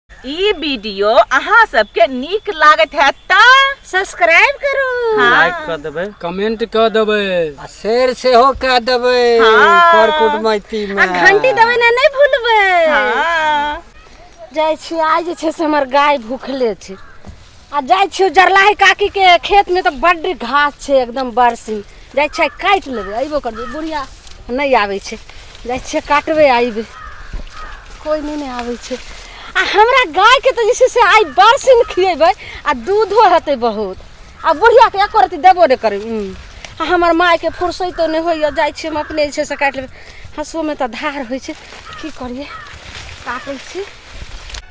ई video अहाँ सबके नीक लागत है त सब्सक्राइब करू लाइक कर देबै कमेंट कऽ देबै आ शेर सेहो कऽ देबै हाँ। कर कुटमैती आ मे घंटी दबै ना नहीं भूलबै हाँ। जाइ छी आइ जे छै से हमर गाय भूखले छै आ जाइ छियौ जरलाही काकी के खेत में तऽ बड्ड घास छै एकदम बरसी जाइ छै काटि लेबै अयबो करबै बुढ़िया नहि आबै छै जाइ छियै काटबै अयबै कोइ नहि नहि आबै छै आ हमरा गायके तऽ जे छै से आइ बरसिन खियेबै आ दूधो हेतै बहुत आ बुढ़ियाके एको रति देबो नहि करबै उं। आ हमर मायके फुर्सैतो नहि होइए जाइ छियै हम अपने जे छै से काटि लेबै हँसुओमे तऽ धार होइ छै की करियै काटै छी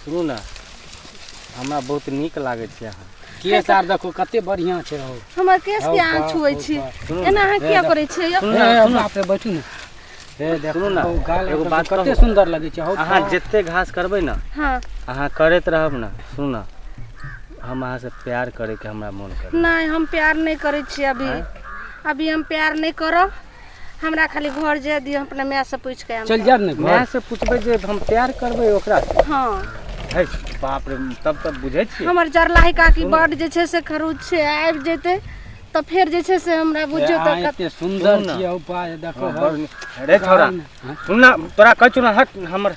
सुनू ने हमरा बहुत नीक लागै छै अहाँ केस आर देखू कते बढ़िया छै हौ हमर केस के अहाँ छुए छी एना अहाँ किया करै छियै यौ सुनू ने सुनू पे बैठू ने हे देखू ने एगो बात कते सुंदर लगै छै हौ अहाँ जते घास करबै ने हां अहाँ करैत रहब ने सुनू ने हम अहाँ से प्यार करे के हमरा मन करे नहीं हम प्यार नहीं करे छी अभी अभी हम प्यार नहीं करब हमरा खाली घर जे दियो अपना माय से पूछ के चल जा ने माय से पूछबे जे हम प्यार करबे ओकरा से हां है बाप रे तब तब बुझै छी हमर जरलाही काकी बड जे छै से खरूच छै आबि जेते तऽ फेर जे छै से हमरा बुझियो तऽ कते सुन्दर छियै उपाय देखो हाँ, रे छोरा हाँ। सुन ना तोरा कहै छु ना हट हमर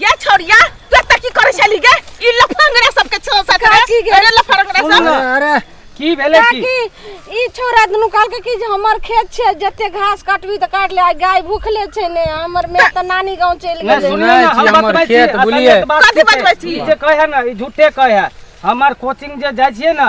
गे छोरिया तू एतऽ की करै छली गे ई लफंगरा सबके छो साथ काकी गे। अरे लफंगरा सुन सब न, अरे की भेलै की काकी ई छोरा दुनू कहलकै कि जे हमर खेत छै जते घास काटबी तऽ काट ले आ गाय भूखले छै ने हमर माय तऽ नानी गाँव चलि नहि गेलै सुनिए सुनै ने छी हम हमर बतबै छी खेत, असलियत बुझलियै? बात कथी की छै? बतबै छी? ई जे कहै है ने ई झूठे कहै है हमर कोचिंग जे जाइ छियै ने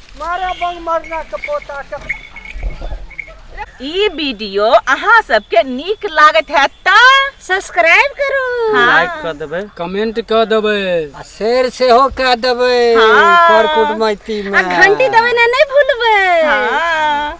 मारा बंग मरना के पोता के ई वीडियो अहाँ सबके नीक लागत है त सब्सक्राइब करू लाइक कर देबै कमेंट कऽ देबै आ शेर सेहो कऽ देबै हाँ। कर कुटमैती मे घंटी दबेना नहि भूलबै हाँ